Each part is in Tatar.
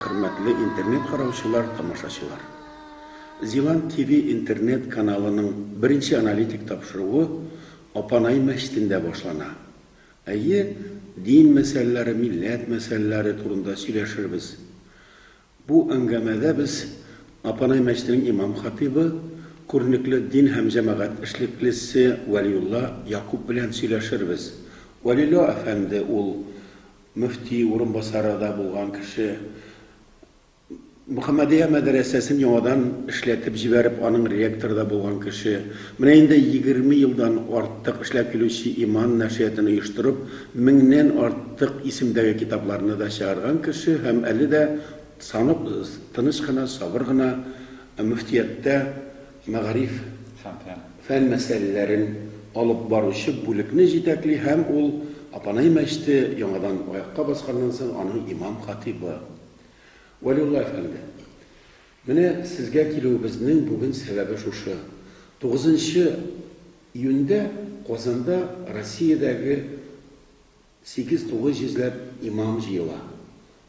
Хөрмәтле интернет караучылар, тамашачылар! Зилант ТВ интернет каналының беренче аналитик тапшыруы Апанай мәчетендә башлана. Әйе, дин мәсьәләләре, милләт мәсьәләләре турында сөйләшербез. Бу әңгәмәдә без Апанай мәчетенең имам-хатыйбы, күренекле дин һәм җәмәгать эшлеклесе Вәлиулла Якуп белән сөйләшербез. Вәлило әфәнде ул Мөфти урынбасары да булган кеше Мөхәммәдия мәдрәсәсен яңадан эшләтеп җибәреп, аның ректоры да булган кеше, менә инде егерме елдан артык эшләп килүче Иман нәшриятын оештырып, меңнән артык исемдәге китапларны да чыгарган кеше һәм әле дә саны тыныч кына, сабыр гына мөфтияттә мәгариф һәм фән мәсьәләләрен алып баручы бүлекне җитәкли һәм ул Апанай мәчете яңадан аякка басканнан соң аның имам-хатыйбы. Вәлиулла әфәнде, менә сезгә килүебезнең бүген сәбәбе шушы, тугызынчы июньдә Казанда Россиядәге, Сигез-тугыз йөзләп имам җыела.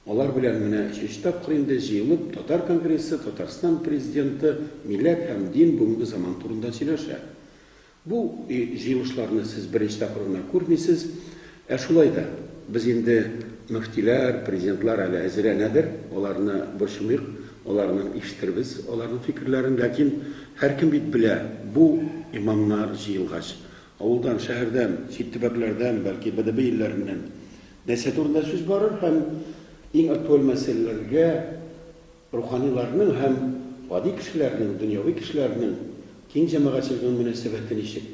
Алар белән менә өченче тапкыр инде җыелып татар конгрессы, Татарстан Президенты милләт һәм дин бүгенге заман турында сөйләшә. Бу җыелышларны сез беренче тапкыр гына күрмисез. Ә шулай да, без инде мөфтиләр, президентлар әле әзерләнәдер, аларны борчымыйк, аларның ишетербез аларның фикерләрен, ләкин һәркем бит белә, бу имамнар җыелгач, Авылдан, шәһәрдән, чит төбәкләрдән, бәлки БДБ илләреннән нәрсә турында сүз барыр һәм иң актуаль мәсьәләләргә руханиларның һәм гади кешеләрнең, дөньяви кешеләрнең, киң җәмәгатьчелегнең мөнәсәбәте ничек?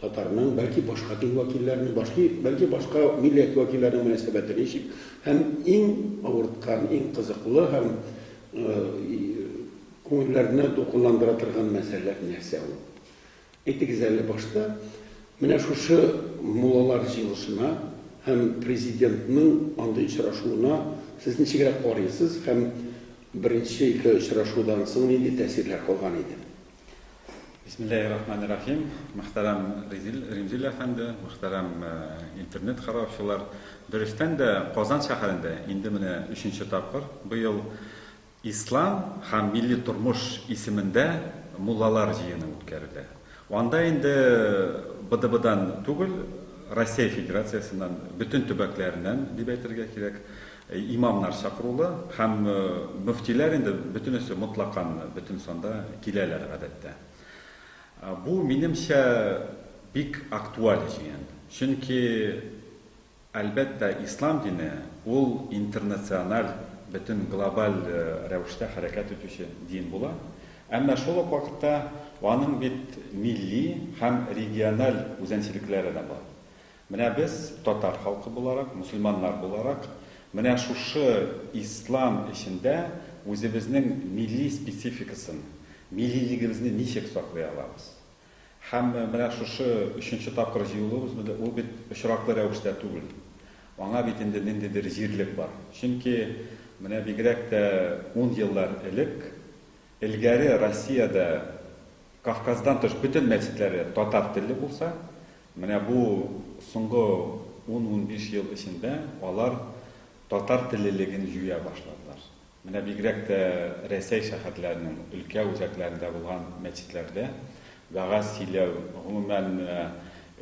Татарның, бәлки башка дин вәкилләренең, башки, бәлки башка милләт вәкилләренең мөнәсәбәте ничек? Һәм иң авырткан, иң кызыклы һәм күңелләрне дулкынландыра торган мәсьәләләр нәрсә ул? Әйтегез әле, башта менә шушы муллалар җыелышына һәм Президентның андый очрашуына сез ничегрәк карыйсыз һәм беренче ике очрашудан соң нинди тәэсирләр калган иде? Бисмиллаһи рахмани рахим. Мөхтәрәм Ризил, Римзил әфәнде, мөхтәрәм интернет караучылар. Дөрестән дә, Казан шәһәрендә инде менә өченче тапкыр быел Ислам һәм милли тормыш исемендә муллалар җыены үткәрелә. Анда инде БДБдан түгел, Россия Федерациясеннән, бөтен төбәкләреннән дип әйтергә кирәк, имамнар чакырулы һәм мөфтиләр инде бөтенесе мотлакан бөтен санда киләләр гадәттә. Бу, минемчә, бик актуаль җыен. Чөнки Әлбәттә, ислам дине, ул интернациональ, бөтен глобаль рәвештә хәрәкәт итүче дин була. Әмма шул ук вакытта аның бит милли һәм региональ үзәнчелекләре дә бар. Менә без, татар халкы буларак, мөселманнар буларак, менә шушы ислам эчендә үзебезнең милли спецификасын, миллилегебезне ничек саклый алабыз? Һәм менә шушы өченче тапкыр җыелуыбыз бит, ул бит очраклы рәвештә түгел. Аңа бит инде ниндидер җирлек бар. Чөнки менә бигрәк тә ун еллар элек, элгәре Россиядә Кавказдан тыш бөтен мәчетләре татар телле булса, менә бу соңгы ун-унбиш ел эчендә алар татар теллелеген җуя башладылар. Менә бигрәк тә Рәсәй шәһәрләренең өлкә үзәкләрендә булган мәчетләрдә вәгазь сөйләү, гомумән,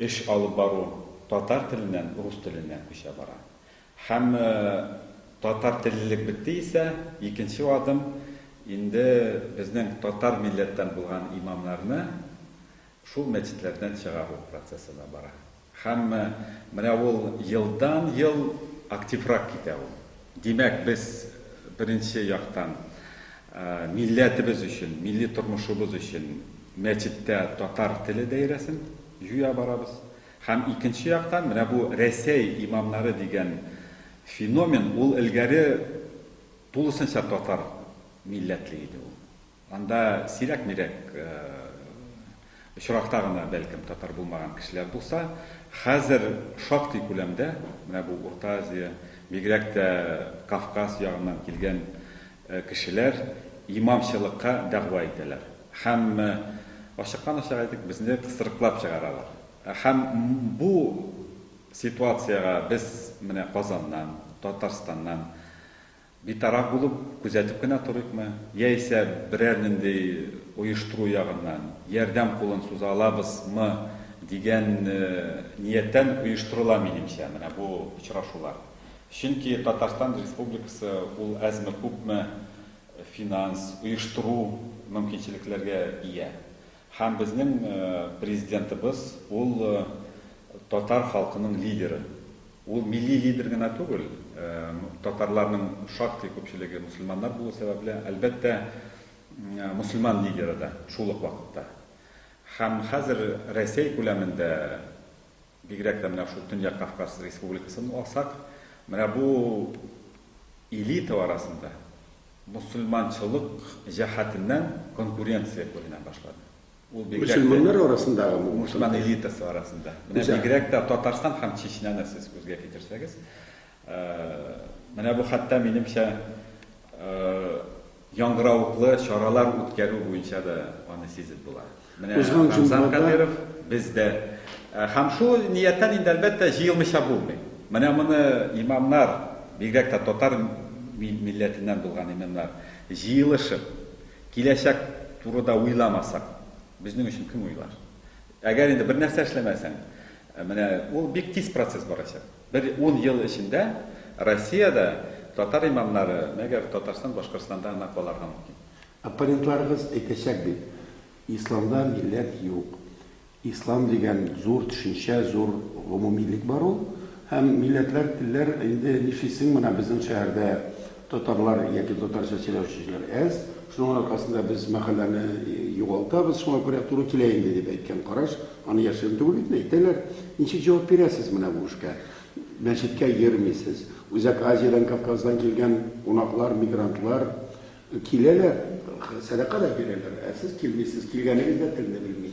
эш алып бару татар теленнән рус теленә күчә бара. Һәм татар теллелек бетте исә, икенче адым инде безнең татар милләттән булган имамнарны шул мәчетләрдән чыгару процессы да бара. Һәм менә ул елдан-ел активрак китә ул. Димәк, без, беренче яктан, милләтебез өчен, милли тормышыбыз өчен мәчеттә татар теле даирәсен җуя барабыз. Һәм икенче яктан, менә бу Рәсәй имамнары дигән феномен, ул элгәре тулысынча татар милләтле иде ул. Анда сирәк-мирәк очракта гына, бәлкем, татар булмаган кешеләр булса, хәзер шактый күләмдә менә бу Урта Азия, бигрәк тә Кавказ ягыннан килгән кешеләр имамчылыкка дәгъва итәләр һәм ачыктан-ачык әйтик, безне кысрыклап чыгаралар. Һәм бу ситуациягә без менә Казаннан, Татарстаннан, Битараф булып, күзәтеп кенә торыйкмы, яисә берәр нинди оештыру ягыннан ярдәм кулын суза алабыз мы дигән нияттән оештырыла, минемчә, менә бу очрашулар. Чөнки Татарстан Республикасы ул әзме-күпме финанс, оештыру мөмкинчелекләргә ия. Һәм безнең Президентыбыз ул татар халкының лидеры. Ул милли лидер генә түгел, татарларның шактый күпчелеге мөселманнар булу сәбәпле, әлбәттә, мөселман лидеры да шул ук вакытта. Һәм хәзер Рәсәй күләмендә Бигрәк тә менә шул Төньяк Кавказ республикасын алсак, менә бу элита арасында мөселманчылык җәһәтеннән конкуренция күренә башлады. Ул бигрәк тә Мөселманнар арасындагы бу Мөселман элитасы арасында. Менә бигрәк тә Татарстан һәм Чечняны сез күзгә китерсәгез, менә бу хәтта минемчә Яңгыравыклы чаралар үткәрү буенча да аны сизеп була. Менә Рамзан Кадыйров бездә. Һәм шул нияттән инде, әлбәттә, җыелмыйча булмый. Менә моны имамнар, бигрәк тә татар милләтеннән булган имамнар, җыелышып, киләчәк турыда уйламасак, безнең өчен кем уйлар? Әгәр инде бернәрсә эшләмәсәң, менә ул бик тиз процесс барачак. Бер ун ел эчендә Россиядә татар имамнары, мәгәр Татарстан, Башкортстанда гына каларга мөмкин. Оппонентларыгыз әйтәчәк бит, Исламда милләт юк. Ислам дигән зур төшенчә, зур гомумилек бар ул. Һәм милләтләр, телләр, инде нишлисең, менә безнең шәһәрдә, Татарлар яки татарча сөйләүчеләр әз, шуның аркасында без мәхәлләне югалтабыз, шуңа күрә туры килә инде, дип әйткән караш, аны яшерен түгел бит, әйтәләр. Ничек җавап бирәсез менә бу эшкә? Мәчеткә йөрмисез. Үзәк Азиядән, Кавказдан килгән кунаклар, мигрантлар киләләр, сәдака да бирәләр, ә сез килмисез, килгәнегез дә телне белми.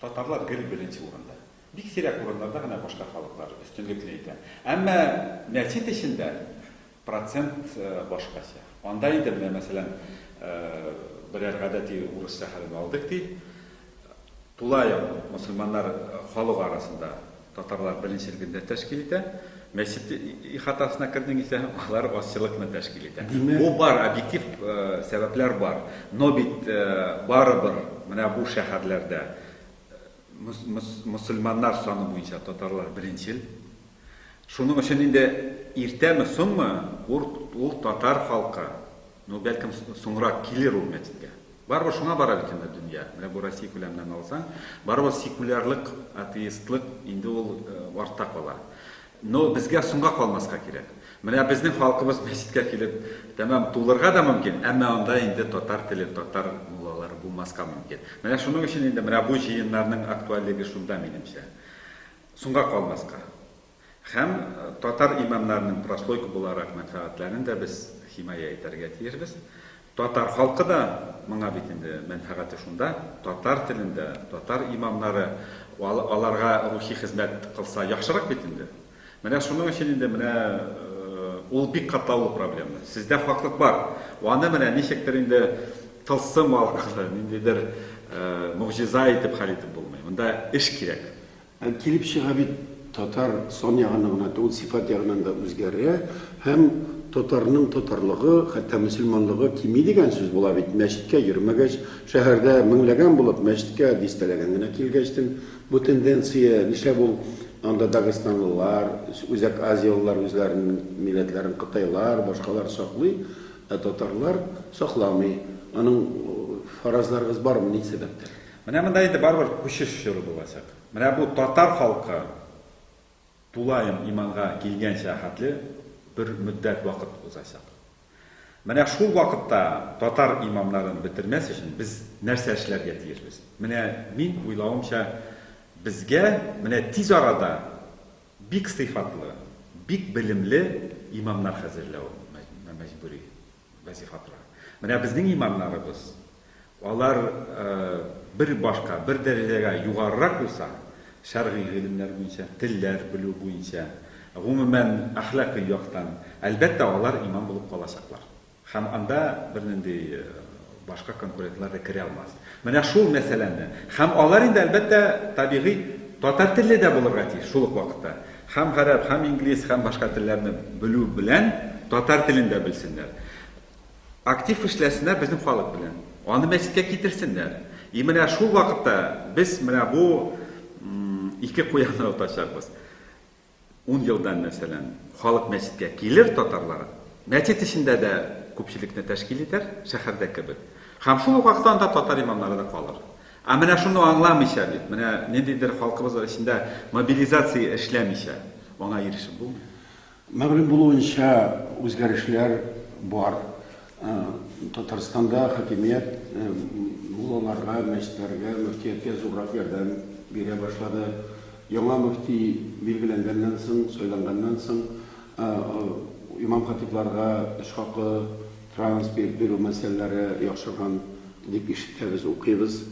Татарлар гел беренче урында. Бик сирәк урыннарда гына башка халыклар өстенлекле итә. Әмма мәчет эчендә процент башкача. Анда инде, менә мәсәлән, берәр гадәти урысча хәлен алдык ди, тулаем мөселманнар халык арасында Татарлар беренчел гөндә тәшкил итә. Мәчет ихатасына кердең исә, алар азчылыкны тәшкил итә. Димәк... Бу бар, объектив сәбәпләр бар. Но бит барыбер менә бу шәһәрләрдә мөселманнар саны буенча татарлар беренчел. Шуның өчен инде иртәме, соңмы, ул татар халкы Ну, бәлкем, соңрак килер ул мәчеткә. Барыбер шуңа бара бит инде дөнья. Менә бу Россия күләменнән алсаң, барыбер секулярлык, атеистлык инде ул э, артта кала. Но безгә соңга калмаска кирәк. Менә безнең халкыбыз мәчеткә килеп, тәмам тулырга да мөмкин, әмма анда инде татар теле, татар муллалары булмаска мөмкин. Менә шуның өчен инде менә бу җыеннарның актуальлеге шунда, минемчә. Соңга калмаска. Һәм татар имамнарының прослойка буларак мәнфәгатьләрен дә без химая итәргә тиешбез. Татар халкы да моңа бит инде мәнфәгате шунда, татар телендә, татар имамнары аларга рухи хезмәт кылса яхшырак бит инде. Менә шуның өчен инде менә ул бик катлаулы проблема. Сездә хаклык бар. Аны менә ничектер инде тылсым аркылы, ниндидер могҗиза итеп хәл итеп булмый. Монда эш кирәк. Ә килеп чыга бит, татар сан ягыннан гына түгел, сыйфат ягыннан да үзгәрә һәм татарның татарлыгы, хәтта мөселманлыгы кими дигән сүз була бит. Мәчеткә йөрмәгәч, шәһәрдә меңләгән булып, мәчеткә дистәләгән генә килгәч, тен, бу тенденция, нишләп ул анда дагестанлылар, Үзәк Азиялылар үзләренең милләтләрен кытайлар, башкалар саклый, ә татарлар сакламый? Аның фаразларыгыз бармы, ни сәбәптән? Менә монда инде барыбер күчеш чоры булачак. Менә бу татар халкы тулаем иманга килгәнчә хәтле бер мөддәт вакыт узачак. Менә шул вакытта татар имамнарын бетермәс өчен без нәрсә эшләргә тиешбез? Менә мин уйлавымча, безгә менә тиз арада бик сыйфатлы, бик белемле имамнар хәзерләү мәҗбүри. Вазифа тора. Менә безнең имамнарыбыз, алар бер башка, бер дәрәҗәгә югарырак булса, шәргый гыйлемнәр буенча, телләр белү буенча, гомумән, әхлакый яктан, әлбәттә, алар имам булып калачаклар. Һәм анда бернинди Башка конкурентлар да керә алмас. Менә шул мәсьәләне. Һәм алар инде, әлбәттә, табигый, татар телле дә булырга тиеш шул ук вакытта. Һәм гарәп, һәм инглиз, һәм башка телләрне белү белән татар телен дә белсеннәр. Актив эшләсеннәр безнең халык белән. Аны мәчеткә китерсеннәр. И менә шул вакытта без менә бу ике куянны отачакбыз. Ун елдан, мәсәлән, халык мәчеткә килер, татарлар мәчет эчендә дә күпчелекне тәшкил итәр, шәһәрдә кебек. Һәм шул ук вакытта анда татар имамнары да калыр. Ә менә шуны аңламыйча бит, менә ниндидер халкыбыз эчендә мобилизация эшләмичә, аңа ирешеп булмый. Мәгълүм булуынча, үзгәрешләр бар. Татарстанда хакимият муллаларга, мәчетләргә, мөфтияткә зуррак ярдәм бирә башлады. Яңа мөфти билгеләнгәннән соң, сайланганнан соң, имам-хатибларга эш хакы, транспорт бирү мәсьәләләре яхшырган дип ишетәбез, укыйбыз.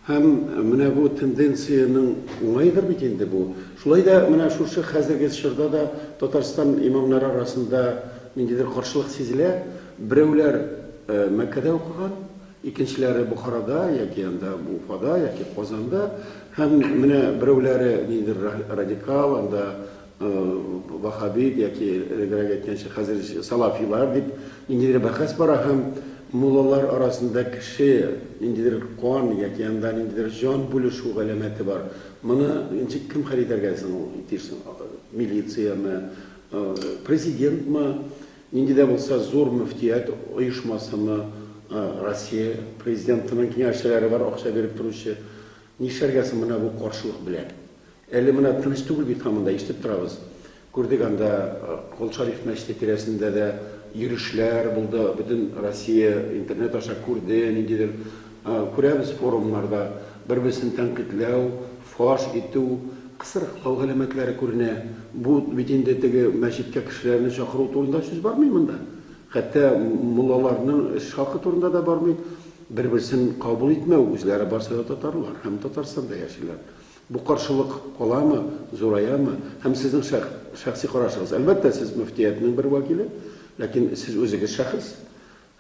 Һәм менә бу тенденциянең уңаедыр бит инде бу. Шулай да менә шушы хәзерге чорда да Татарстан имамнары арасында ниндидер каршылык сизелә. Берәүләр Мәккәдә укыган, икенчеләре Бохарада яки анда Уфада яки Казанда. Һәм менә берәүләре ниндидер радикал, анда Ваһһабит яки элегрәк әйткәнчә хәзер салафилар дип ниндидер бәхәс бара һәм муллалар арасында кеше ниндидер кан яки анда ниндидер җан бүлешү галәмәте бар. Моны ничек кем хәл итәргә соң ул тиеш соң? Милициямы, президентмы, нинди дә булса зур мөфтият оешмасымы, Россия президентының киңәшчеләре бар акча биреп торучы. Нишләргә соң менә бу каршылык белән? Әле менә дөрес түгел бит һаман да, ишетеп торабыз. Күрдек анда Кол Шариф мәчете тирәсендә дә йөрешләр булды, бөтен Россия интернет аша күрде, ниндидер күрәбез форумнарда бер-берсен тәнкыйтьләү, фаш итү, кысрыклау галәмәтләре күренә. Бу бит инде теге мәчеткә кешеләрне чакыру турында сүз бармый монда. Хәтта муллаларның эш хакы турында да бармый. Бер-берсен кабул итмәү, үзләре барсы да татарлар һәм Татарстанда яшиләр. Бу каршылык каламы, зураямы? Һәм сезнең шәх, шәхси карашыгыз? Әлбәттә, сез мөфтиятнең бер вәкиле, ләкин сез үзегез шәхес.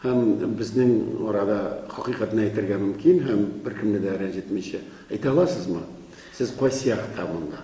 Һәм безнең арада хакыйкатьне әйтергә мөмкин һәм беркемне дә рәнҗетмичә. Әйтә аласызмы? Сез кайсы якта монда?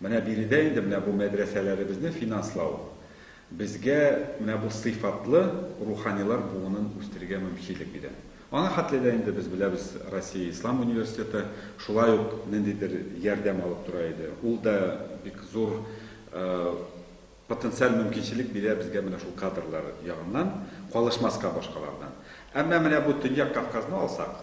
Менә биредә инде менә бу мәдрәсәләребезне финанслау безгә менә бу сыйфатлы руханилар буынын үстерергә мөмкинлек бирә. Аңа хәтле дә инде без беләбез, Россия Ислам университеты шулай ук ниндидер ярдәм алып тора иде. Ул да бик зур Потенциаль мөмкинчелек бирә безгә менә шул кадрлар ягыннан, калышмаска башкалардан. Әмма менә бу Төньяк Кавказны алсак,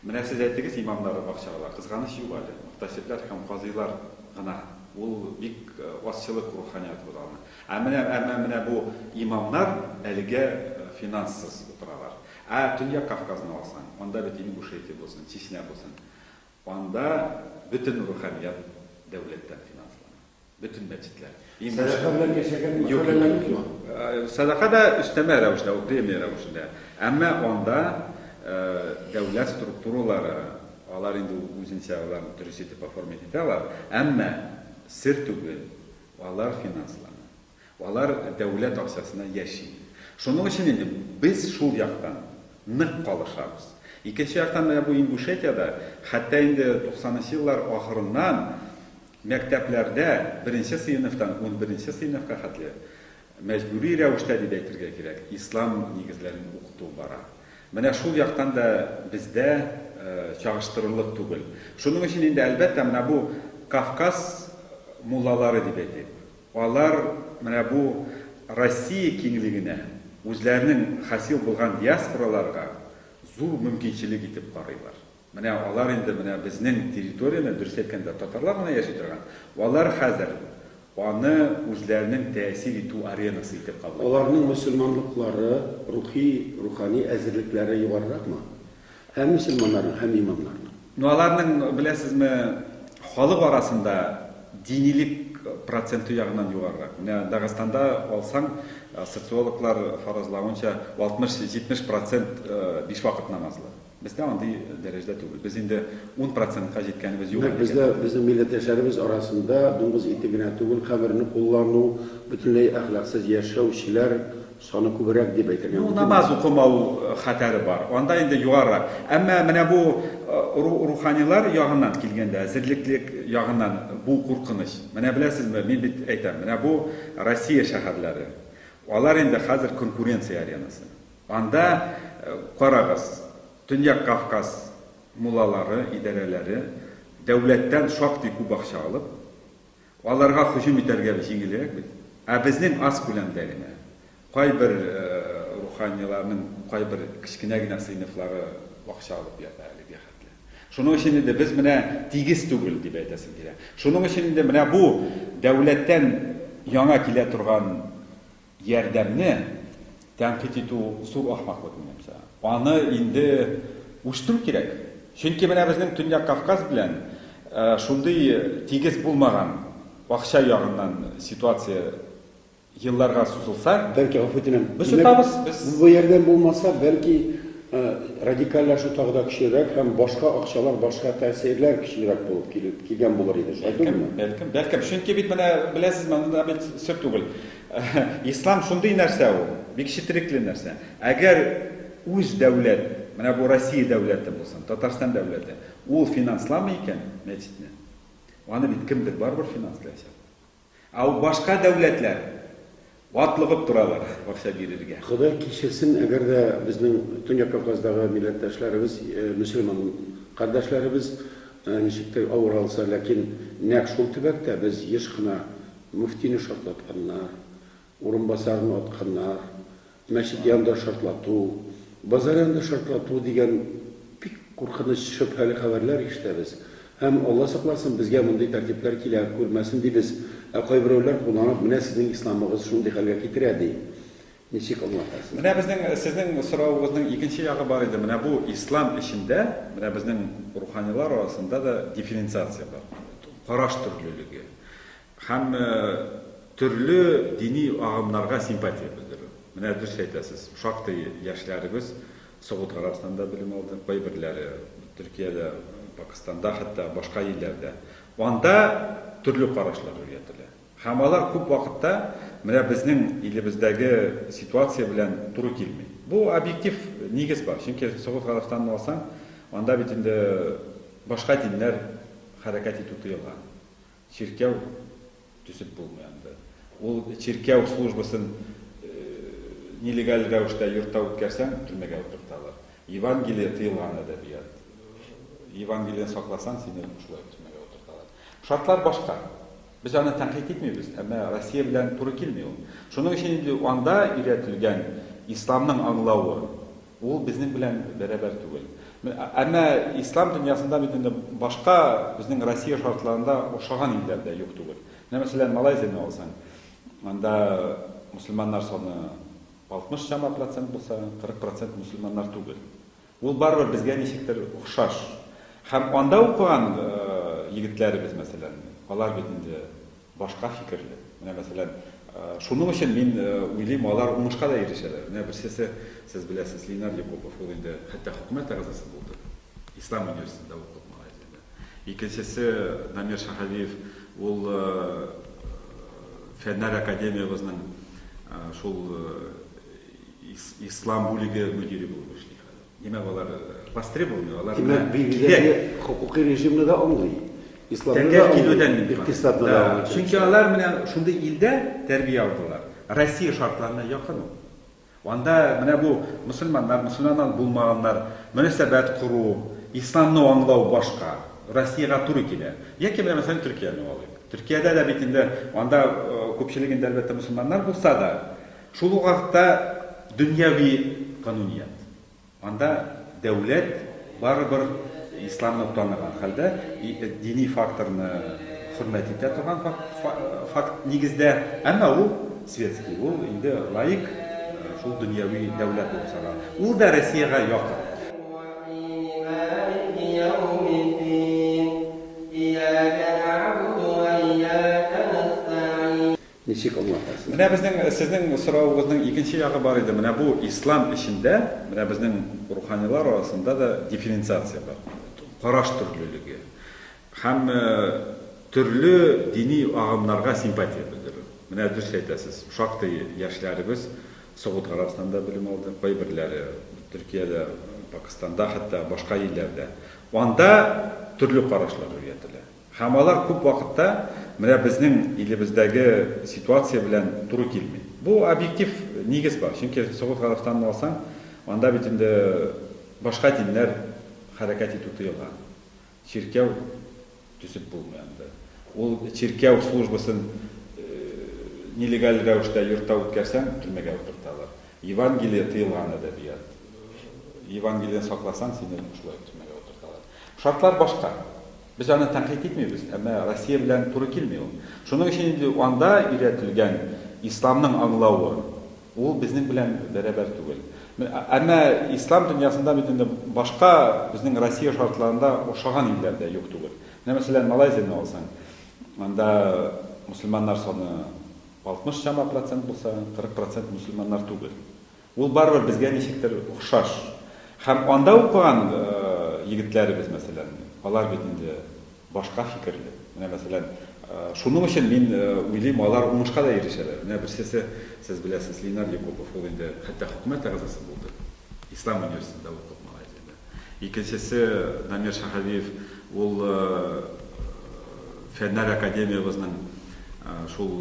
менә сез әйтегез, имамнары бакчаларда кызганыч юк әле, мөхтәсибләр һәм казыйлар гына, ул бик азчылык руханият ул аны. Ә менә әмма менә бу имамнар әлегә финансыз утыралар. Ә Төньяк Кавказны алсаң, анда бит Ингушетия булсын, Чечня булсын, Анда бөтен руханият дәүләттән финанслана. Бөтен мәчетләр. Сәдака белән яшәгән мәхәлләләр юкмы? Сәдака да өстәмә рәвештә, ул премия рәвешендә. Әмма анда дәүләт структуралары, алар инде ул үзенчә аларны дөрес итеп оформить итә алар, әмма сер түгел, алар финанслана. Алар дәүләт акчасына яши. Шуның өчен инде без шул яктан нык калышабыз. Икенче яктан, менә бу Ингушетиядә, хәтта инде туксанынчы еллар ахырыннан мәктәпләрдә беренче сыйныфтан унберенче сыйныфка хәтле мәҗбүри рәвештә дип әйтергә кирәк, ислам нигезләрен укыту бара. Менә шул яктан да бездә чагыштырырлык түгел. Шуның өчен инде, әлбәттә, менә бу Кавказ муллалары дип әйтик. Алар менә бу Россия киңлегенә, үзләренең хасил булган диаспораларга зур мөмкинчелек итеп карыйлар. Менә алар инде менә безнең территорияне, дөрес әйткәндә, татарлар гына яши торган, алар хәзер аны үзләренең тәэсир итү аренасы итеп кабул итәләр. Аларның мөселманлыклары, рухи, рухани әзерлекләре югарыракмы? Ә мөселманнарның һәм имамнарның? Ну аларның, беләсезме, халык арасында динилек проценты ягыннан югарырак. Менә Дагыстанда алсаң, социологлар фаразлавынча, 60-70 процент биш вакыт намазлы. Бездә андый дәрәҗәдә түгел. Без инде ун процентка җиткәнебез юк әлегә. Нәкъ бездә, безнең милләттәшләребез арасында дуңгыз ите генә түгел, хәмерне куллану, бөтенләй әхлаксыз яшәүчеләр, Саны күбрәк дип әйтергә мөмкинме? Ну, намаз укымау хәтәре бар. Анда инде югарырак. Әмма менә бу руханилар ягыннан килгәндә, әзерлеклек ягыннан бу куркыныч. Менә беләсезме, мин бит әйтәм, менә бу Россия шәһәрләре. Алар инде хәзер конкуренция аренасы. Анда, карагыз, Төньяк Кавказ муллалары, идарәләре дәүләттән шактый күп акча алып, Аларга һөҗүм итәргә җиңелрәк бит. Ә безнең аз күләмдә генә. Кайбер руханиларның кайбер кечкенә генә сыйныфлары акча алып ята әлегә хәтле. Шуның өчен инде без менә тигез түгел, дип әйтәсем килә. Шуның өчен инде менә бу дәүләттән яңа килә торган Ярдәмне тәнкыйть итү зур ахмаклык, минемчә. Аны инде үстерү кирәк. Чөнки менә безнең Төньяк Кавказ белән шундый тигез булмаган акча ягыннан ситуация елларга сузылса. Бәлки, гафу үтенәм. Без йотабыз, без. Бу ярдәм булмаса, бәлки, радикальләшү тагы да көчлерәк һәм башка акчалар, башка тәэсирләр көчлерәк булып килгән булыр иде. Шулай түгелме? Бәлкем, бәлкем. Чөнки бит менә, беләсезме, анда бит сер түгел. Ислам шундый нәрсә ул, бик четерекле нәрсә. Әгәр үз дәүләт, менә бу Россия дәүләте булсын, Татарстан дәүләте, ул финансламый икән мәчетне, аны бит кемдер барыбер финанслаячак. Ә ул башка дәүләтләр атлыгып торалар акча бирергә. Ходай кичерсен, әгәр дә безнең Төньяк Кавказдагы милләттәшләребез, мөселман кардәшләребез ничектер авыр алса, ләкин нәкъ шул төбәктә без еш кына Мөфтине шартлатканнар, урынбасарын атканнар, мәчет янында шартлату, базар янында шартлату дигән бик куркыныч, шөбһәле хәбәрләр ишетәбез. Һәм, Алла сакласын, безгә мондый тәртипләр килә күрмәсен дибез. Ә кайберәүләр кулланып, менә сезнең исламыгыз шундый хәлгә китерә, ди. Ничек аңлатасыз? Менә безнең сезнең соравыгызның икенче ягы бар иде. Менә бу ислам эчендә, менә безнең руханилар арасында да дифференциация бар. Караш төрлелеге һәм төрле дини агымнарга симпатия белдерү. Менә дөрес әйтәсез, шактый яшьләребез Согуд Гарәбстанында белем алды, кайберләре Төркиядә, Пакыстанда, хәтта башка илләрдә. Анда төрле карашлар өйрәтелә. Һәм алар күп вакытта менә безнең илебездәге ситуация белән туры килми. Бу объектив нигез бар. Чөнки Согуд Гарәбстанын алсаң, анда бит инде башка диннәр хәрәкәт итү тыелган. Чиркәү төзеп булмый анда. Ул чиркәү службасын нелегаль рәвештә йортта үткәрсәң, төрмәгә утырталар. Евангелие тыелган әдәбият. Евангелиене сакласаң, сине шулай төрмәгә утырталар. Шартлар башка. Без аны тәнкыйть итмибез, әмма Россия белән туры килми ул. Шуның өчен инде анда өйрәтелгән исламның аңлавы, ул безнең белән бәрабәр түгел. Әмма ислам дөньясында бит инде башка безнең Россия шартларында охшаган илләр дә юк түгел. Менә, мәсәлән, Малайзияне алсаң, анда мөселманнар саны 60 чама процент булса, 40 процент мөселманнар түгел. Ул барыбер безгә ничектер охшаш. Һәм анда укыган егетләребез, мәсәлән, алар бит инде башка фикерле. Менә, мәсәлән, шуның өчен мин уйлыйм, алар уңышка да ирешәләр. Менә берсесе, сез беләсез, Ленар Якупов, ул инде хәтта хөкүмәт әгъзасы булды. Ислам университетында укып, Малайзиядә. Икенчесе, Намир Шаһалиев, ул Фәннәр академиябезнең шул Ислам бүлеге мөдире булып эшли хәзер. Димәк, алар востребованный, алар белән кирәк. Димәк, бигрәге хокукый режимны да аңлый. Исламны да аңлый, икътисадны да аңлый. Чөнки алар менә шундый илдә тәрбия алдылар. Россия шартларына якын ул. Анда менә бу мөселманнар, мөселманнар булмаганнар, мөнәсәбәт кору, исламны аңлау башка. Россиягә туры килә. Яки менә мәсәлән Төркияне алыйк. Төркиядә дә бит инде анда күпчелегендә әлбәттә мөселманнар булса да, Шул ук вакытта дөньяви кануният. Анда дәүләт барыбер исламны таныган хәлдә, дини факторны хөрмәт итә торган факт нигездә, әмма ул светский, ул инде лаик, шул дөньяви дәүләт булып санала. Ул да Россиягә якын. Ничек аңлатасыз? Менә безнең, сезнең соравыгызның икенче ягы бар иде. Менә бу ислам эчендә, менә безнең руханилар арасында да дифференциация бар. Караш төрлелеге һәм төрле дини агымнарга симпатия белдерү. Менә дөрес әйтәсез, шактый яшьләребез Согуд Гарәбстанда белем алды, кайберләре Төркиядә, Пакыстанда, хәтта башка илләрдә. Анда төрле карашлар өйрәтелә. Һәм алар күп вакытта менә безнең илебездәге ситуация белән туры килми. Бу объектив нигез бар, чөнки Согуд Гарәбстанын алсаң, анда бит инде башка диннәр хәрәкәт итү тыелган. Чиркәү төзеп булмый анда. Ул чиркәү службасын нелегаль рәвештә йортта үткәрсәң, төрмәгә утырталар. Евангелие тыелган әдәбият. Евангелиены сакласаң, сине шулай төрмәгә утырталар. Шартлар башка. Без аны тәнкыйть итмибез, әмма Россия белән туры килми ул. Шуның өчен инде анда өйрәтелгән исламның аңлавы, ул безнең белән бәрабәр түгел. Әмма ислам дөньясында бит инде башка безнең Россия шартларында охшаган илләр дә юк түгел. Менә, мәсәлән, Малайзияне алсаң, анда мөселманнар саны 60 чама процент булса, 40 процент мөселманнар түгел. Ул барыбер безгә ничектер охшаш. Һәм анда укыган егетләребез, мәсәлән, алар бит инде башка фикерле. Менә, мәсәлән, шуның өчен мин уйлыйм, алар уңышка да ирешәләр. Менә берсесе, сез беләсез, Ленар Якупов, ул инде хәтта хөкүмәт әгъзасы булды. Ислам университетында укып, Малайзиядә. Икенчесе, Дамир Шаһәвиев, ул Фәннәр академиябезнең шул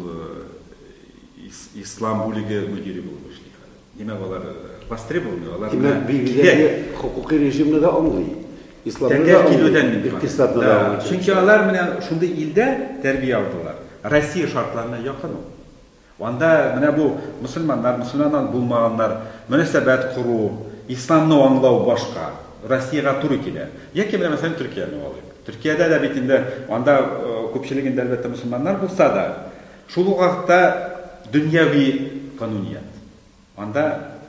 Ислам бүлеге мөдире булып эшли хәзер. Димәк, алар востребованы, алар Димәк, билгеле хокукый режимны да аңлый. Исламны да аңлый, икътисадны да аңлый. Чөнки алар менә шундый илдә тәрбия алдылар. Россия шартларына якын ул. Анда менә бу мөселманнар, мөселманнан булмаганнар, мөнәсәбәт кору, исламны аңлау башка. Россиягә туры килә. Яки менә мәсәлән Төркияне алыйк. Төркиядә дә бит инде анда күпчелегендә әлбәттә мөселманнар булса да, Шул ук вакытта дөньяви кануният. Анда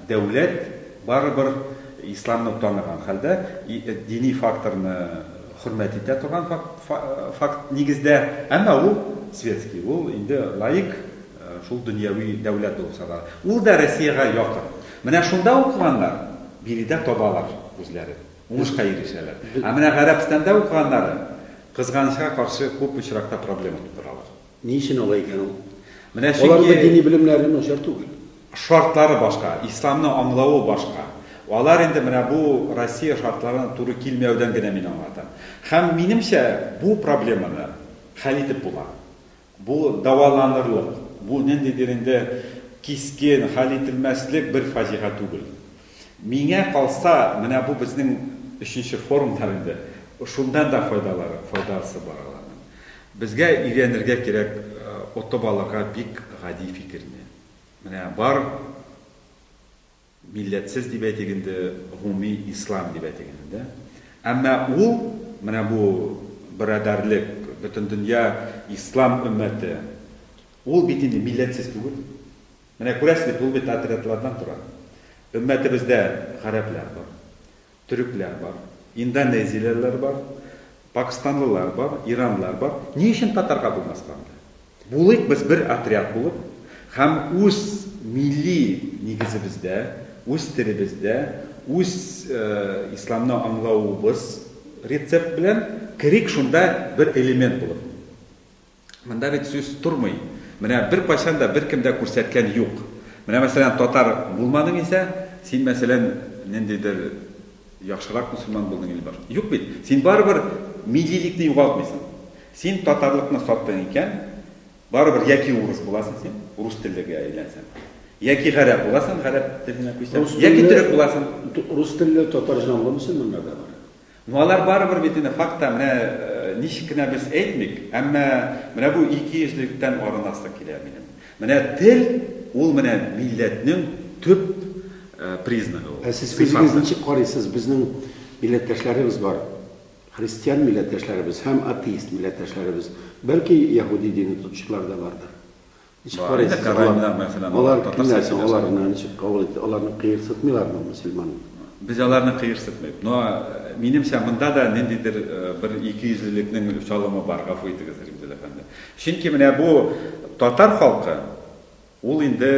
дәүләт барыбер исламны таныган хәлдә, дини факторны хөрмәт итә торган факт нигездә, әмма ул светский, ул инде лаик, шул дөньяви дәүләт булып санала. Ул да Россиягә якын. Менә шунда укыганнар биредә табалар үзләрен, уңышка ирешәләр. Ә менә Гарәбстанда укыганнары, кызганычка каршы, күп очракта проблема тудыралар. Ни өчен алай икән ул? Менә чөнки... Аларның дини белемнәре начар түгел. Шартлары башка, исламны аңлавы башка. Алар инде менә бу Россия шартларына туры килмәүдән генә мин аңлатам. Һәм минемчә, бу проблеманы хәл итеп була. Бу дәваланырлык, бу ниндидер инде кискен, хәл ителмәслек бер фаҗига түгел. Миңа калса, менә бу безнең өченче форумнар инде. Шуннан да файдалары, файдасы бар аларның. Безгә өйрәнергә кирәк отып алырга бик гади фикерне. Менә бар милләтсез дип әйтик инде, гомуми ислам дип әйтик инде, дә? Әмма ул, менә бу берадәрлек, бөтендөнья ислам өммәте, ул бит инде милләтсез түгел. Менә күрәсез бит, ул бит отрядлардан тора. Өммәтебездә гарәпләр бар, төрекләр бар, индонезиялеләр бар, пакстанлылар бар, иранлылар бар. Ни өчен татарга булмаска анда? Булыйк без бер отряд булып һәм үз милли нигезебездә, үз телебездә, үз исламны аңлавыбыз рецепт белән керик шунда бер элемент булып. Монда бит сүз тормый. Менә беркайчан да беркем дә күрсәткән юк. Менә мәсәлән татар булмадың исә, син мәсәлән ниндидер яхшырак мөселман булдың или башка. Юк бит. Син барыбер миллилекне югалтмыйсың. Син татарлыкны саттың икән, барыбер яки урыс буласың син, урыс теллегә әйләнсәң. Яки гарәп буласың, гарәп теленә күчсәң. Яки төрек буласың. Рус телле татар җанлы мөселманнар да бар. Ну алар барыбер бит инде факта, менә ничек кенә без әйтмик, әмма менә бу икейөзлелектән арынасы килә минем. Менә тел, ул менә милләтнең төп признагы ул. Ә сез үзегез ничек карыйсыз, безнең милләттәшләребез бар, христиан милләттәшләребез һәм атеист милләттәшләребез, бәлки яһүди дине тотучылар да бардыр. Ничек карыйсыз, алар кемнәр соң, алар менә ничек кабул итте, аларны кыерсытмыйлармы мөселман? Без аларны кыерсытмыйб. Но, минемчә, монда да ниндидер бер икейөзлелекнең чалымы бар, гафу итегез, Римзил әфәнде. Чөнки менә бу татар халкы, ул инде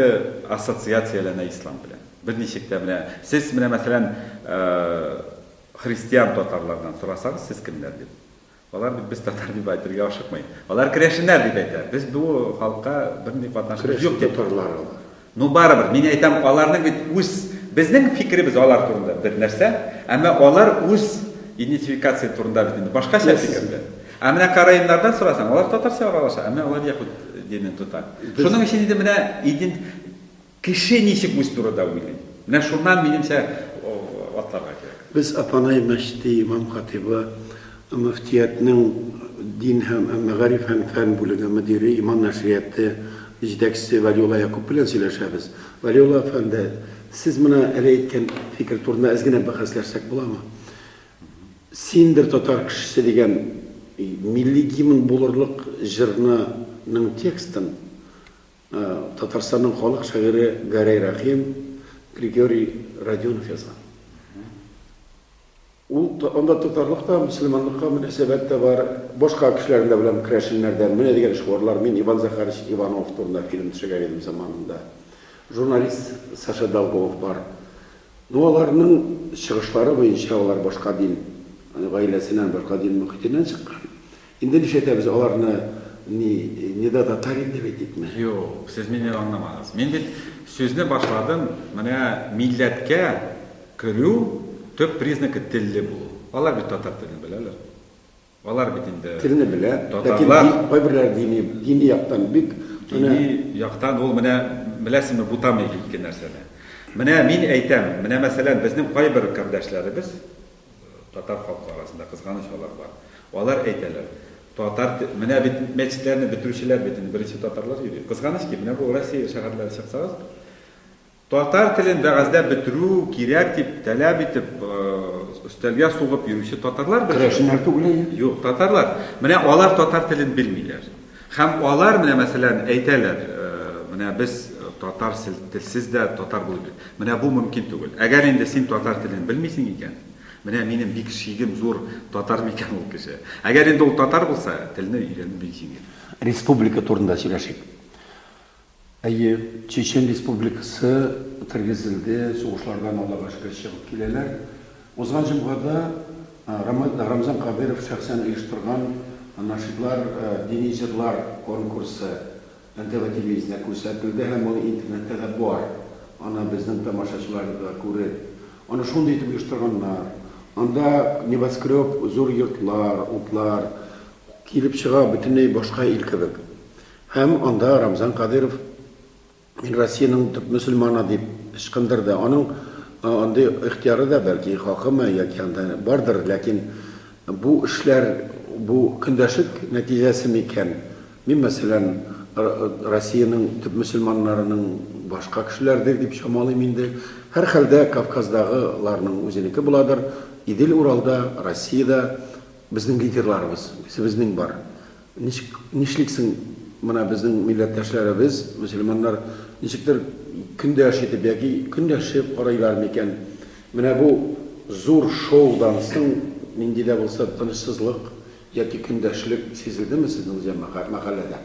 ассоциацияләнә ислам белән. Берничек тә менә, сез менә мәсәлән, христиан татарлардан сорасагыз, сез кемнәр дип, Алар бит без татар дип әйтергә ашыкмый. Алар керәшеннәр дип әйтә. Без бу халыкка бернинди катнашыбыз юк дип. Керәшен татарлар алар. Ну барыбер, мин әйтәм, аларның бит үз, безнең фикеребез алар турында бер нәрсә, әмма алар үз идентификация турында бит инде башкача фикерле. Ә менә караимнардан сорасаң, алар татарча аралаша, әмма алар яһүд динен тота. Шуның өчен инде менә идент Кеше ничек үз турыда уйлый? Менә шуннан, минемчә, атларга кирәк. Без Апанай мәчете имам-хатыйбы, мөфтиятнең дин һәм мәгариф һәм фән бүлеге мөдире, Иман нәшрияты җитәкчесе Вәлиулла Якуп белән сөйләшәбез. Вәлиулла әфәнде, сез менә әле әйткән фикер турында әз генә бәхәсләшсәк буламы? Синдер татар кешесе дигән милли гимн булырлык җырны ның текстын Татарстанның халык шагыйре Гәрәй Рәхим, Григорий Родионов язган. Ул анда татарлык та, мөселманлыкка мөнәсәбәт тә бар. Башка кешеләрен дә беләм, керәшеннәрдән. Менә дигән шигурлар. Мин Иван Захарович Иванов турында фильм төшергән идем заманында. Журналист Саша Долгов бар. Ну, аларның чыгышлары буенча, алар башка дин гаиләсеннән, башка дин мөхитеннән чыккан. Инде нишләтәбез аларны ни нида татарин дип әйтик ме? Юк, сез мине аңламадыгыз. Мин бит сүзне башладым, менә милләткә керү төп признакы телле булу. Алар бит татар телен беләләр. Алар бит инде Телне белә, ләкин татарлар. ди, кайберләре дини, дини яктан бик Дини менә яктан ул менә беләсезме бутамый ике нәрсәне. Менә мин әйтәм, менә мәсәлән безнең кайбер кардәшләребез, Татар халкы арасында кызганыч алар бар. Алар әйтәләр, татар те-, менә бит мәчетләрне бетерүчеләр бит инде беренче татарлар йөри. Кызганыч ки, менә бу Россия шәһәрләре чыксагыз, татар телен вәгазьдә бетерү кирәк дип, тәләп итеп, өстәлгә сугып йөрүче татарлар бетерелә. Керәшеннәр түгел әйе. Юк, татарлар. Менә алар татар телен белмиләр. Һәм алар менә, мәсәлән, әйтәләр, Менә без татар телсез дә татар булып бит. Менә бу мөмкин түгел. Әгәр инде син татар телен белмисең икән, менә минем бик шигем зур татар микән ул кеше. Әгәр инде ул татар булса, телне өйрәнү бик җиңел. Республика турында сөйләшик. Әйе, Чечен Республикасы тергезелде, сугышлардан Аллага шөкер чыгып киләләр. Узган җомгада Рамзан Кадыйров шәхсән оештырган Нашидлар, дини җырлар конкурсы НТВ телевидениесендә күрсәтелде һәм ул интернетта да бар. Аны безнең тамашачылар да күреп, аны шундый итеп оештырганнар. Анда небоскреб, зур йортлар, утлар килеп чыга, бөтенләй башка ил кебек. Һәм анда Рамзан Кадыйров Мин Россиянең төп мөселманы дип ычкындырды. Аның андый ихтыяры да, бәлки, хакымы яки анда бардыр, ләкин бу эшләр, бу көндәшлек нәтиҗәсе микән? Мин, мәсәлән, Россиянең төп мөселманнарының башка кешеләрдер дип чамалыйм инде. Һәрхәлдә, Кавказдагыларның үзенеке буладыр. Идел-Уралда, Россиядә безнең лидерларыбыз, үзебезнең бар. Ничек, нишли соң менә безнең милләттәшләребез, мөселманнар, ничектер көндәш итеп яки көнләшеп карыйлар микән? Менә бу зур шоудан соң нинди дә булса тынычсызлык яки көндәшлек сизелдеме сезнең җәмәгать мәхәлләдә?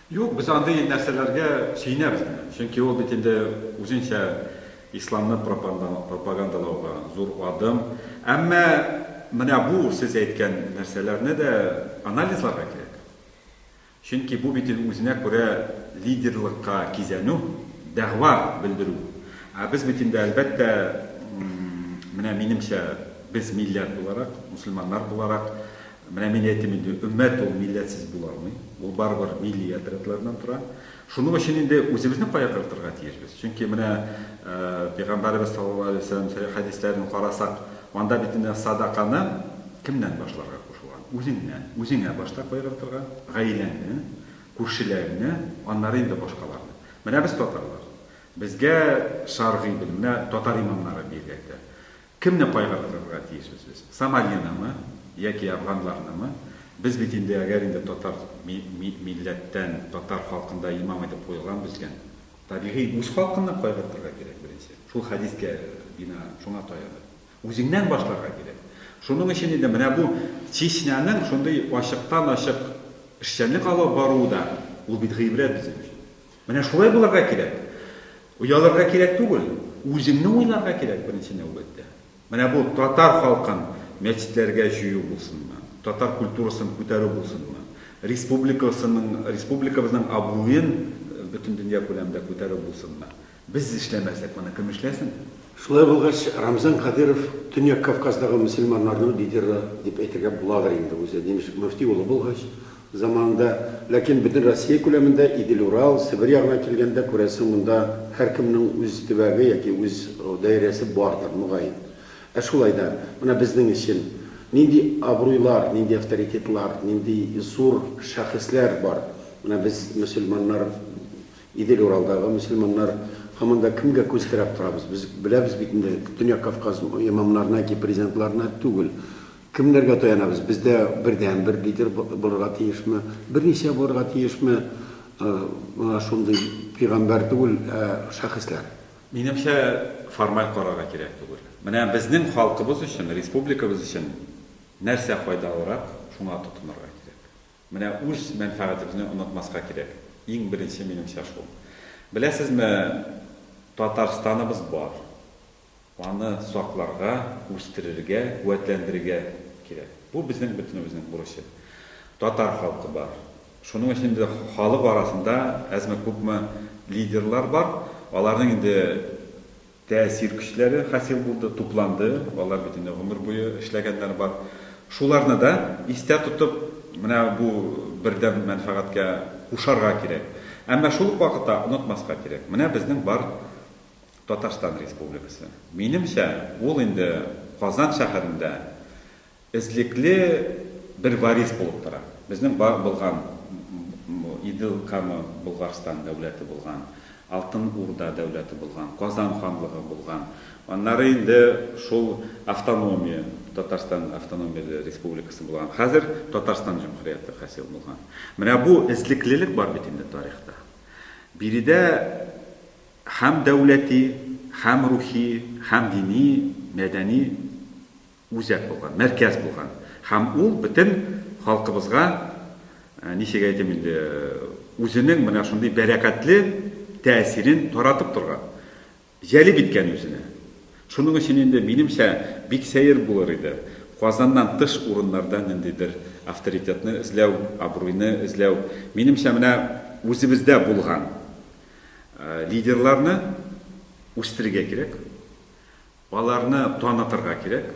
Юк, без андый нәрсәләргә сөенәбез генә. Чөнки ул бит инде үзенчә исламны пропагандалауга зур адым. Әмма менә бу сез әйткән нәрсәләрне дә анализларга кирәк. Чөнки бу бит үзенә күрә лидерлыкка кизәнү, дәгъва белдерү. Ә без бит инде, әлбәттә, менә минемчә, без милләт буларак, мөселманнар буларак, Менә мин әйтим инде, өммәт ул милләтсез була алмый. Ул барыбер милли отрядлардан тора. Шуның өчен инде үзебезне кая кертергә тиешбез? Чөнки менә Пәйгамбәребез саллаллаһу алейһи ва сәлләм сәхих хәдисләрен карасак, анда бит инде садаканы кемнән башларга кушылган? Үзеңнән. Үзеңә башта кайгыртырга, гаиләңне, күршеләреңне, аннары инде башкаларны. Менә без татарлар. Безгә шәргый белем, менә татар имамнары биргәтә. Кемне кайгыртырга тиеш сез? Сомалинымы, яки афганларнымы? Без бит инде, әгәр инде татар ми ми милләттән, татар халкында имам итеп куелган безгән, табигый, үз халкынны кайгыртырга кирәк беренче. Шул хәдискә бинаән, шуңа таянып. Үзеңнән башларга кирәк. Шуның өчен инде менә бу Чечняның шундый ачыктан-ачык эшчәнлек алып баруы да, ул бит гыйбрәт безнең өчен. Менә шулай булырга кирәк. Оялырга кирәк түгел, үзеңне уйларга кирәк беренче нәүбәттә. Менә бу татар халкын мәчетләргә җыю булсынмы, татар культурасын күтәрү булсынмы, республикасының, республикабызның абруен бөтен дөнья күләмендә күтәрү булсынмы? Без эшләмәсәк, моны кем эшләсен? Шулай булгач, Рамзан Кадыйров Төньяк Кавказдагы мөселманнарның лидеры дип әйтергә буладыр инде, үзе немец мөфти улы булгач, Заманында, ләкин бөтен Россия күләмендә Идел-Урал, Себер ягына килгәндә, күрәсең, монда һәркемнең үз төбәге яки үз даирәсе бардыр, мөгаен. Ә шулай да, менә безнең өчен нинди абруйлар, нинди авторитетлар, нинди зур шәхесләр бар? Менә без, мөселманнар, Идел-Уралдагы мөселманнар, һаман да кемгә күз терәп торабыз? Без беләбез бит инде, Төньяк Кавказ имамнарына яки президентларына түгел. Кемнәргә таянабыз? Бездә бердәнбер лидер булырга тиешме? Берничә булырга тиешме? Менә шундый пигамбәр түгел, ә шәхесләр. Минемчә, формаль карарга кирәк түгел. Менә безнең халкыбыз өчен, республикабыз өчен нәрсә файдалырак, шуңа тотынырга кирәк. Менә үз мәнфәгатебезне онытмаска кирәк. Иң беренче, минемчә, шул. Беләсезме, Татарстаныбыз бар. Аны сакларга, үстерергә, куәтләндерергә кирәк. Бу безнең бөтенебезнең бурычы. Татар халкы бар. Шуның өчен инде халык арасында әзме-күпме лидерлар бар. Аларның инде тәэсир көчләре хасил булды, тупланды. Алар бит инде гомер буе эшләгәннәр бар. Шуларны да истә тотып, менә бу бердәм мәнфәгатькә кушарга кирәк. Әмма шул ук вакытта онытмаска кирәк. Менә безнең бар Татарстан Республикасы. Минемчә, ул инде Казан шәһәрендә эзлекле бер варис булып тора. Безнең бар булган Идел, Кама, Болгарстан дәүләте булган, Алтын Урда дәүләте булган, Казан ханлыгы булган, аннары инде шул автономия, Татарстан автономияле республикасы булган, хәзер Татарстан җөмһүрияте хасил булган. Менә бу эзлеклелек бар бит инде тарихта. Биредә Һәм дәүләти, һәм рухи, һәм дини, мәдәни үзәк булган, мәркәз булган. Һәм ул бөтен халкыбызга, ничек әйтим инде, үзенең менә шундый бәрәкәтле тәэсирен таратып торган, җәлеп иткән үзенә. Шуның өчен инде, минемчә, бик сәер булыр иде Казаннан тыш урыннарда ниндидер авторитетны эзләү, абруйны эзләү. Минемчә, менә үзебездә булган, Лидерларны үстерергә кирәк, аларны танытырга кирәк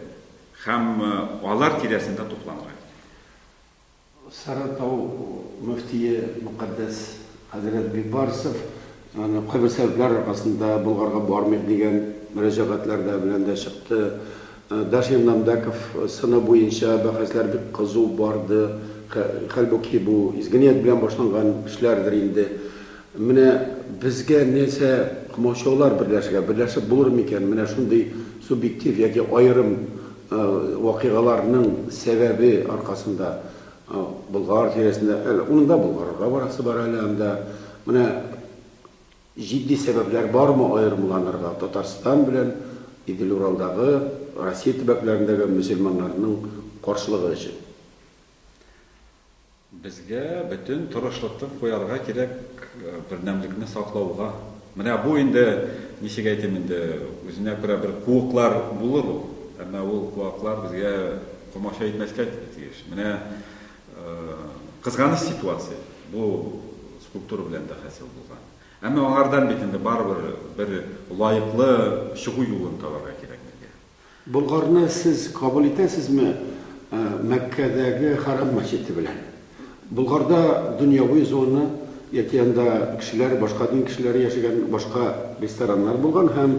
һәм алар тирәсендә тупланырга кирәк. Сарытау мөфтие мөкатдәс хәзрәт Бибарсов кайбер сәбәпләр аркасында Болгарга бармыйк дигән мөрәҗәгатьләр дә белән дә чыкты. Дашим Намбәков сыны буенча бәхәсләр бик кызу барды, хәлбуки бу изге ният белән башланган эшләрдер инде. Менә безгә нәрсә комачаулар берләшергә, берләшеп булыр микән, менә шундый субъектив яки аерым вакыйгаларның сәбәбе аркасында Болгар тирәсендә, әле уның да Болгарга барасы бар әле анда, менә җитди сәбәпләр бармы аерымланырга Татарстан белән Идел-Уралдагы, Россия төбәкләрендәге мөселманнарның каршылыгы өчен? Безгә бөтен тырышлыкты куярга кирәк бердәмлекне саклауга. Менә бу инде, ничек әйтим инде, үзенә күрә бер куыклар булыр ул. Әмма ул куаклар безгә комача итмәскә тиеш. Менә кызганыч ситуация бу скульптура белән дә хасил булган. Әмма аңардан бит инде барыбер бер лаеклы чыгу юлын табарга кирәк безгә. Болгарны сез кабул итәсезме Мәккәдәге Хәрам мәчете белән? Болгарда дөньяви зона яки анда кешеләр, башка дин кешеләре яшәгән башка рестораннар булган һәм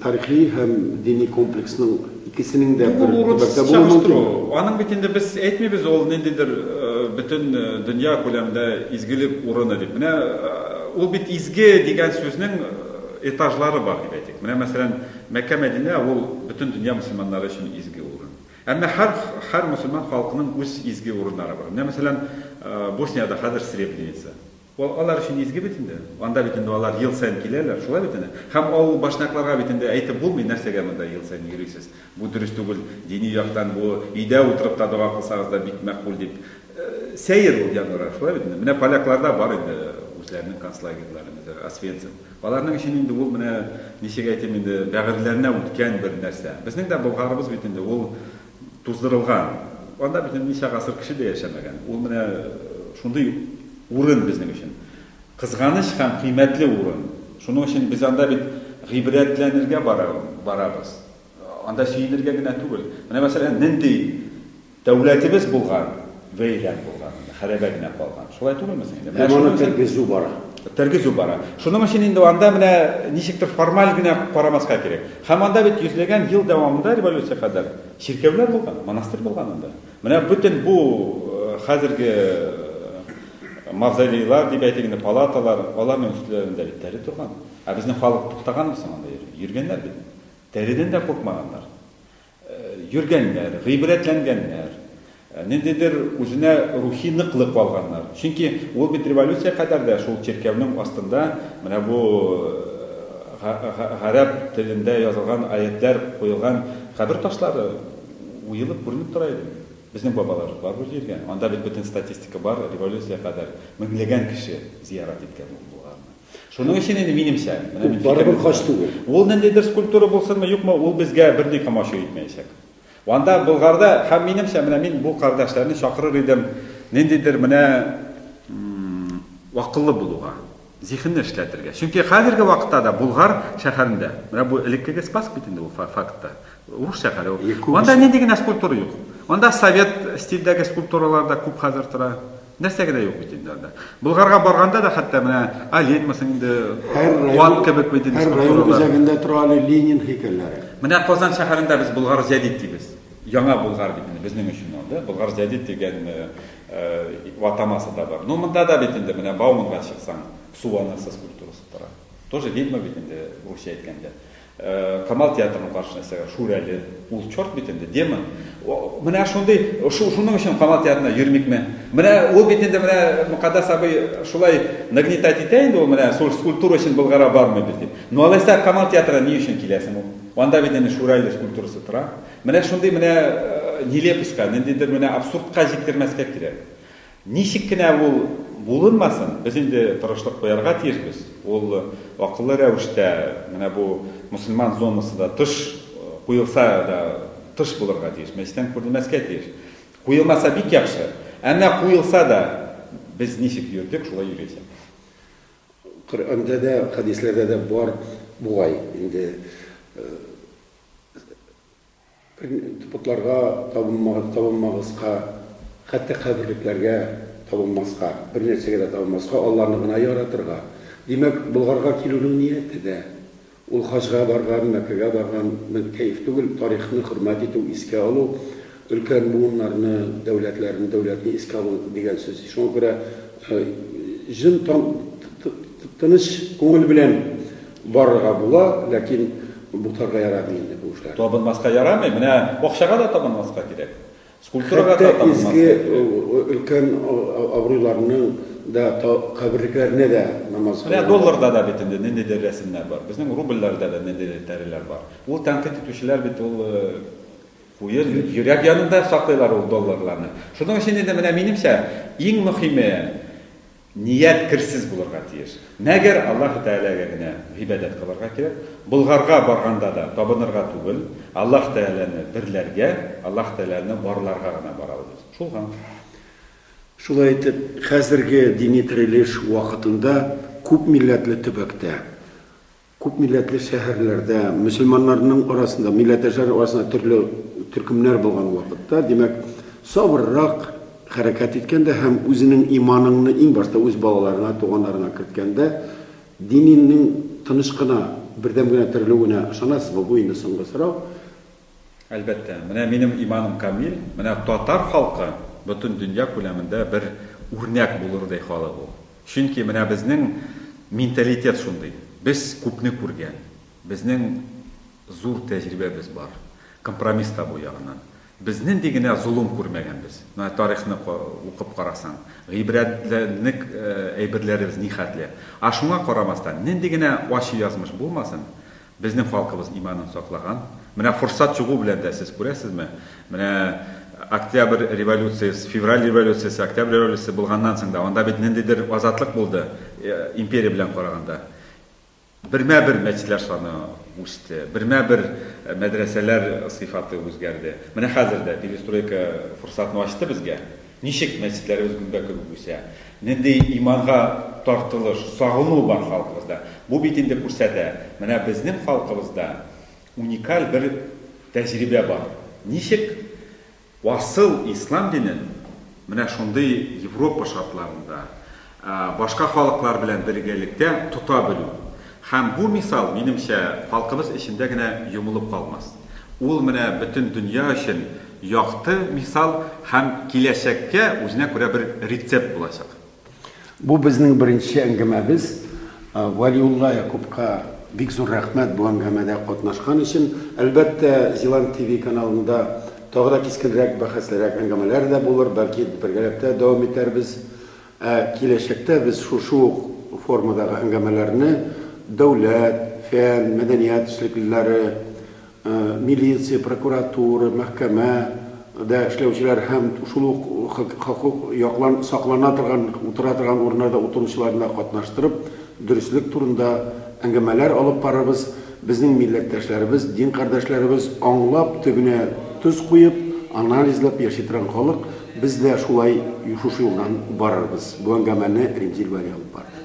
тарихи һәм дини комплексның икесенең дә бер төбәктә булуы мөмкинме? Аның бит инде без әйтмибез ул ниндидер бөтен дөнья күләмендә изгелек урыны дип. Менә ул бит изге дигән сүзнең этажлары бар дип әйтик. Менә мәсәлән, Мәккә Мәдинә ул бөтен дөнья мөселманнары өчен изге урын. Әмма һәр һәр мөселман халкының үз изге урыннары бар. Менә мәсәлән, Босниядә хәзер Сребреница. Ул алар өчен изге бит инде. Анда бит инде алар ел саен киләләр, шулай бит әнә. Һәм авыл башнякларга бит инде әйтеп булмый, нәрсәгә монда ел саен йөрисез, бу дөрес түгел, дини яктан бу өйдә утырып та дога кылсагыз да бик мәкъбүл дип. Сәер ул яннары, шулай бит инде. Менә полякларда бар инде үзләренең концлагерьлары, мәсәлән, Освенцим. Аларның өчен инде ул менә, ничек әйтим инде, бәгырьләренә үткән бер нәрсә. Безнең дә Болгарыбыз бит инде ул туздырылган. Анда бит инде ничә гасыр кеше дә яшәмәгән. Ул менә шундый урын безнең өчен. Кызганыч һәм кыйммәтле урын. Шуның өчен без анда бит гыйбрәтләнергә барабыз. Анда сөенергә генә түгел. Менә мәсәлән, нинди Дәүләтебез булган, вәйлән булган, хәрәбә генә калган. Шулай түгелме соң инде? Һәм аны тергезү бара. Тергезү бара. Шуның өчен инде анда менә ничектер формаль генә карамаска кирәк. Һәм анда бит йөзләгән ел дәвамында революция кадәр чиркәүләр булган, монастырь булган анда. Менә бөтен бу хәзерге мавзолейлар дип әйтик инде, палаталар, аларның өстләрендә бит тәре торган. Ә безнең халык туктаганмы соң анда йөргәннәр бит. Тәредән дә куркмаганнар. йөргәннәр, гыйбрәтләнгәннәр, ниндидер үзенә рухи ныклык алганнар. Чөнки ул бит революция кадәр дә шул чиркәүнең астында менә бу гарәп телендә язылган аятләр куелган кабер ташлары уелып күренеп тора иде. Безнең бабалар бар бу җиргә. Анда бит бөтен статистика бар, революция кадәр меңләгән кеше зиярат иткән булганнар. Шуның өчен инде минемчә, менә мин барыбер хаҗ түгел. Ул ниндидер скульптура булсынмы, юкмы, ул безгә берни комачу итмәячәк. Анда Болгарда һәм минемчә, менә мин бу кардәшләрне чакырыр идем, ниндидер менә акыллы булуга, зихенне эшләтергә. Чөнки хәзерге вакытта да Болгар шәһәрендә, менә бу элеккеге Спаск бит инде ул фактта, урыс шәһәре ул. Анда нинди генә скульптура юк. Анда совет стильдәге скульптуралар да күп хәзер тора. Нәрсәгә дә юк бит инде анда. Болгарга барганда да хәтта менә Оленмасын инде ват кебек бит инде скульптуралар. Һәр район үзәгендә тора әле Ленин һәйкәлләре. Менә Казан шәһәрендә без Болгар Зәдид дибез. Яңа Болгар бит инде безнең өчен ул, да? Болгар Зәдид дигән э, э, ватамасы да бар. Ну, монда да бит инде менә Бауманга чыксаң, су анасы скульптурасы тора. Тоже ведьма бит инде, русча әйткәндә. Камал театрының каршында эшләгән Шүрәле, ул чорт бит инде, демон. Менә шундый, шуның өчен Камал театрына йөрмикме? Менә ул бит инде менә Мөкаддәс абый шулай нагнетать итә инде ул менә скульптура өчен Болгара бармый без дип. Ну алайса Камал театрына ни өчен киләсең ул? Анда бит инде Шүрәле скульптурасы тора. Менә шундый менә нелепоська, ниндидер менә абсурдка җиткермәскә кирәк. Ничек кенә ул булынмасын, без инде тырышлык куярга тиешбез. Ул акыллы рәвештә, менә бу мөселман зонасы да тыш куелса да тыш булырга тиеш, мәчеттән күренмәскә тиеш. Куелмаса бик яхшы. Әмма куелса да, без ничек йөрдек, шулай йөрячәкбез. Коръәндә дә, хәдисләрдә дә бар бугай инде. Тупыкларга табынмагыз, табынмагызка, хәтта каберлекләргә табынмаска, бернәрсәгә дә табынмаска, Алланы гына яратырга. Димәк, Болгарга килүнең нияте дә, ул хаҗга барган, Мәккәгә барган ның кәеф түгел, тарихны хөрмәт итү, искә алу, өлкән буыннарны, дәүләтләрне, дәүләтне искә алу дигән сүз. Шуңа күрә җын тыныч күңел белән. Барырга була, ләкин бутарга ярамый инде бу эшләр. Табынмаска ярамый, менә бакчага да табынмаска кирәк. Скульптурага да табынмаска кирәк. Хәтта өлкән абруйларның да каберлекләренә дә намаз кылына. Менә долларда да бит инде ниндидер рәсемнәр бар. Безнең рубльләрдә дә ниндидер тәреләр бар. Ул тәнкыйть итүчеләр бит ул куе йөрәк янында саклыйлар ул долларларны. Шуның өчен инде менә минемчә иң мөхиме Ният керсез булырга тиеш. Мәгәр Аллаһы Тәгаләгә генә гыйбадәт кылырга кирәк. Болгарга барганда да табынырга түгел, Аллаһ Тәгаләне берләргә, Аллаһ Тәгаләне барларга гына барабыз. Шул гамь. Шулай итеп, хәзерге дини терелеш вакытында күпмилләтле төбәктә Күпмилләтле шәһәрләрдә, мөселманнарның арасында, милләттәшләр арасында төрле төркемнәр булган вакытта, димәк, сабыррак хәрәкәт иткәндә һәм үзенең иманыңны иң башта үз балаларыңа, туганнарыңа керткәндә, дининең тыныч кына, бердәм генә терелүенә ышанасызмы? Бу инде соңгы сорау. Әлбәттә, менә минем иманым камил, менә татар халкы бөтен дөнья күләмендә бер үрнәк булырдай халык ул. Чөнки менә безнең менталитет шундый. Без күпне күргән, безнең зур тәҗрибәбез бар, компромисс табу ягыннан. Без нинди генә золым күрмәгәнбез. Менә тарихны укып карасаң, гыйбрәтләнерлек әйберләребез нихәтле. Ә шуңа карамастан, нинди генә ачы язмыш булмасын, Безнең халкыбыз иманын саклаган. Менә форсат чыгу белән дә, сез күрәсезме, менә Октябрь революциясе, Февраль революциясе, Октябрь революциясе булганнан соң да, анда бит ниндидер азатлык булды, империя белән караганда. Бермә-бер мәчетләр саны үсте, бермә-бер мәдрәсәләр сыйфаты үзгәрде. Менә хәзер дә перестройка форсатын ачты безгә. Ничек мәчетләребез гөмбә кебек үсә? Нинди иманга тартылыш, сагыну бар халкыбызда? Бу бит инде күрсәтә, менә безнең халкыбызда уникаль бер тәҗрибә бар. Ничек асыл ислам динен менә шундый Европа шартларында, башка халыклар белән бергәлектә тота белү. Һәм бу мисал, минемчә, халкыбыз эчендә генә йомылып калмас. Ул менә бөтен дөнья өчен якты мисал һәм киләчәккә үзенә күрә бер рецепт булачак. Бу безнең беренче әңгәмәбез. Вәлиулла Якупка бик зур рәхмәт бу әңгәмәдә катнашкан өчен. Әлбәттә, Зилант ТВ каналында тагы да кискенрәк, бәхәслерәк әңгәмәләр дә булыр, бәлки бергәләп тә дәвам итәрбез. Ә киләчәктә без шушы ук формадагы әңгәмәләрне дәүләт, фән, мәдәният эшлеклеләре, милиция, прокуратура, мәхкәмә дә эшләүчеләр һәм шул ук хокук яклан саклана торган утыра торган урыннарда утыручыларны да катнаштырып, дөреслек турында әңгәмәләр алып барырбыз. Безнең милләттәшләребез, дин кардәшләребез аңлап, төбенә тоз куеп, анализлап яши торган халык, без дә шулай шушы юлдан барырбыз, бу әңгәмәне Римзил вәли алып барды.